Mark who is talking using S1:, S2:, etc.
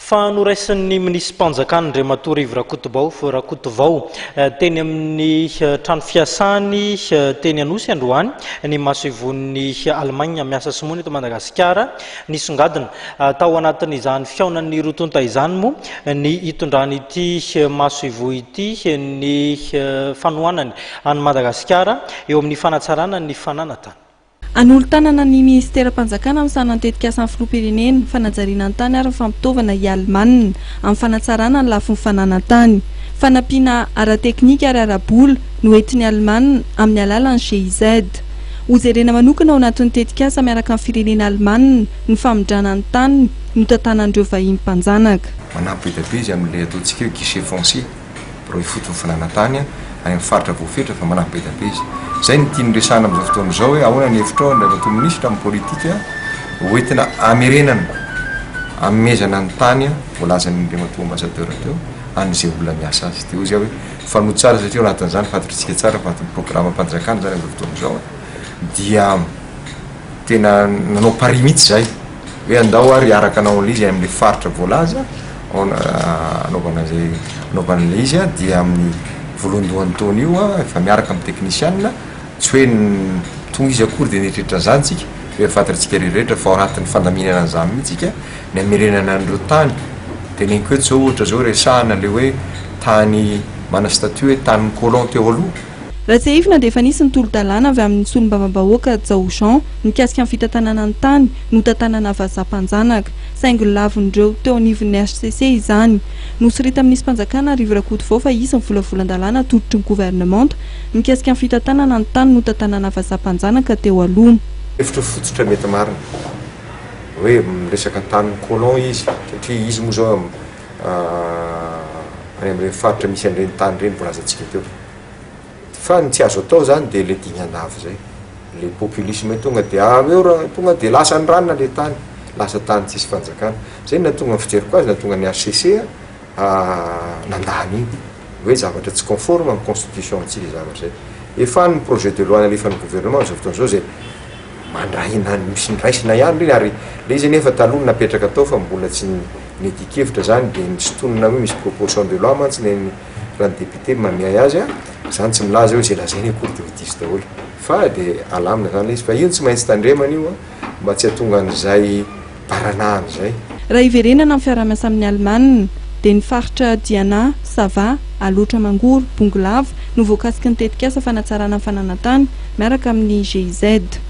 S1: Fa noraisin'ny minisi-panjakan'Andriamatoa Rivo Rakotobao, Rakotovao, teny amin'ny trano fiasany teny Anosy androany ny masoivohon'i Allemagne miasa simoana eto Madagasikara. Nisongadina tao anatin'izany fihaonan'ny roa tonta izany moa ny hitondran'ity masoivoho ity ny fanohanany an'i Madagasikara eo amin'ny fanatsarana ny fananatany. Hanolo-tanana
S2: ny Minisiteram-panjakana amin'ny sahalan'ny Tetikasan'ny Filoham-pirenena, Fanajariana ny tany ary ny fampitaovana i Allemana amin'ny fanatsarana ny lafiny fananan-tany. Fanampiana ara-teknika ary ara-bola no entin'i Allemana amin'ny alalan'ny GIZ. Hojerena manokana ao anatin'ny tetikasa miaraka amin'ny firenena alemana ny famindrana ny tany notantanan'ireo vahiny mpanjanaka. Manampy be dia be izy
S3: amin'ilay ataontsika hoe guichet foncier. Birao ifotony fananantany any amin'ny faritra voafetra fa manampy be dia be izy. Izay no tiany resahana amin'izao fotoana izao hoe ahoana ny hevitrao Andriamatoa Minisitra amin'ny politika hoentina hamerenana, hanomezana ny tany voalazan'Andriamatoa Ambassadeur teo an'izay olona miasa azy. Dia hoy izy aho hoe mifanojo tsara satria ao anatin'izany fantatritsika tsara fa ao anatin'ny programam-panjakana izany amin'izao fotoana izao dia tena nanao pari mihitsy izahay. hoe andao ary hiaraka anao amin'ilay izy any amin'ilay faritra voalaza anaovana izay anaovana an'ilay izy a, dia amin'ny voalohandohan'ny taona io a, efa miaraka amin'ny teknisianina, tsy hoe toa izy akory dia nieritreritra an'izany isika, fa efa fantatr'isika rehetrarehetra fa ao anatin'ny fandaminana an'izany mihitsy isika ny hamerenana an'ireo tany, teneniko eto izao ohatra izao resahana ilay hoe tany mana statut hoe tanin'ny colon teo aloha. Raha tsiahivina dia efa
S2: nisy ny tolo-dalàna avy amin'ny solombavambahoaka Jao Jean mikasika ny fitantanana ny tany notantanana vazaha mpanjanaka. Saingy nolavin'ireo teo anivon'ny hcc izany. Nosorita minisi-panjakana Arivo Rakotovao fa hisy ny volavolan-dalàna atolotry ny governemanta mikasika ny fitantanana ny tany notantanana vazaha mpanjanaka teo aloha. Hevitra fototra
S3: mety marina hoe miresaka tanin'ny colon izy satria izy moa izao any amin'ireny faritra misy an'ireny tany ireny voalazantsika teo. Fa ny tsy azo atao izany dia ilay dingan'avo izay, ilay populisme tonga dia avy eo raha tonga dia lasa ny ranona ilay tany, lasa tany tsisy fanjakana. Izay no nahatonga ny fijeriko azy, nahatonga ny HCC nandà an'iny. Hoe zavatra tsy conforme amin'ny constitution-ntsika izay zavatra izay. Efa any ny projet de loi nalefan'ny gouvernement amin'izao fotoana izao izay mandray na misy ny raisina ihany ireny ary ilay izy anefa taloha no napetraka tao fa mbola tsy ny Ny dikevitra zany dia ny sintonina hoe misy proportion de loi mantsy ny an'ny raha ny député no mamiahy azy an, zany tsy milaza hoe ze lazain'ny cour dia ho diso daholo fa dia alamina zany le izy fa io no tsy maintsy tandremana io an mba tsy hatonga an'izay baranahana izay. Raha hiverenana ny
S2: fiarahamiasa amin'ny Alemana dia ny faritra Diana, Sava, Alaotra Mangoro, Bongolava no voakasiky ny tetikasa fanatsarana ny fananantany miaraka amin'ny GIZ.